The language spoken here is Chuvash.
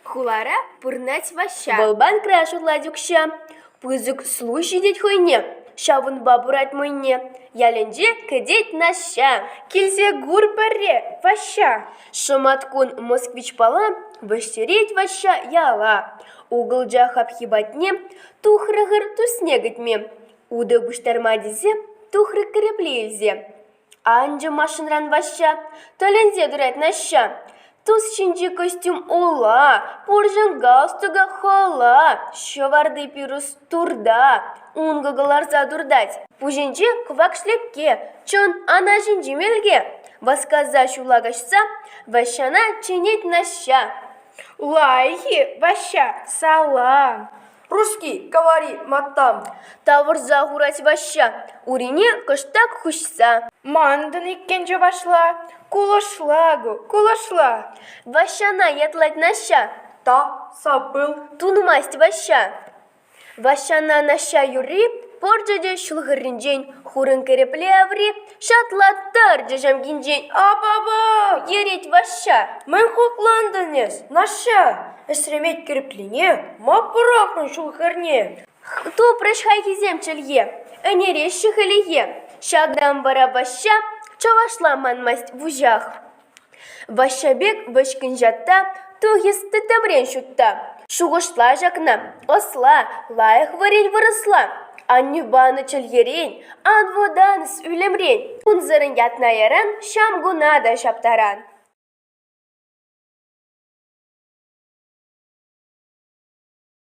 Хулара пурӑнать Ваҫҫа. Вӑл банкра ҫурлать укҫа. Пысӑк слуг ҫитет хӑйне. Ҫавӑнпа пырать мӑйне. Ялӗнче кӗтет Наҫҫа. Килсе кур пӗрре, Ваҫҫа. Шӑматкун Москвич-пала вӗҫтерет Ваҫҫа яла. Угӑлча хапхи патне тухрӑ-хӑр тусне кӗтме. Утӑ пуҫтарма тесе тухрӑ кӗрепле илсе. Анчӗ машинран Ваҫҫа, тӗлӗнсе тӑрать Наҫҫа. Тус ҫинчи костюм ула, пурҫӑн галстука хӑла, ҫӑварти пирус турта, ункӑ кӑларса туртать. Пуҫӗнче кӑвак шлепке, чӑн ана ҫинчи мелке. Васкаса ҫула каҫса Ваҫҫана чӗнет Наҫҫа. Лайӑх-и, Ваҫҫа, салам! Русский, говори, матам! Тавӑрса хурать Ваҫҫа, урине кӑштах хуҫса. Манӑн иккен чӑвашла, кулӑшла-ку, кулӑшла. Ваҫҫана ятлать Наҫҫа. Та сапыл. Тунмасть Ваҫҫа. Ваҫҫана Наҫҫа юрри пӑрчӗ те ҫул хӗрринчен хурӑн кӗрепле аври Ҫапла тарчӗ ҫамкинчен апапа ерет Ваҫҫа. Мӗн хуклантӑн эс, Наҫҫа? Эсремет кӗрӗклине ма пӑрахрӑн ҫул хӗрне? Тупрӗҫ хайхисем чӗлхе, ӗнереҫҫӗ хӗлӗхе. Ҫакӑн вара Ваҫҫа чӑвашла манмасть вуҫах. Ваҫҫа пек вӗҫкӗн ҫатта тухӑҫлӑ тӗпрен ҫутта, шухӑшла ҫакна: ӑсла, лайӑх вӗрен вырӑсла. Аннӳ панӑ чӗлхерен, ан вӑтанӑс ӳлӗмрен, унсӑрӑн ятна яран ҫамкуна та ҫаптаран.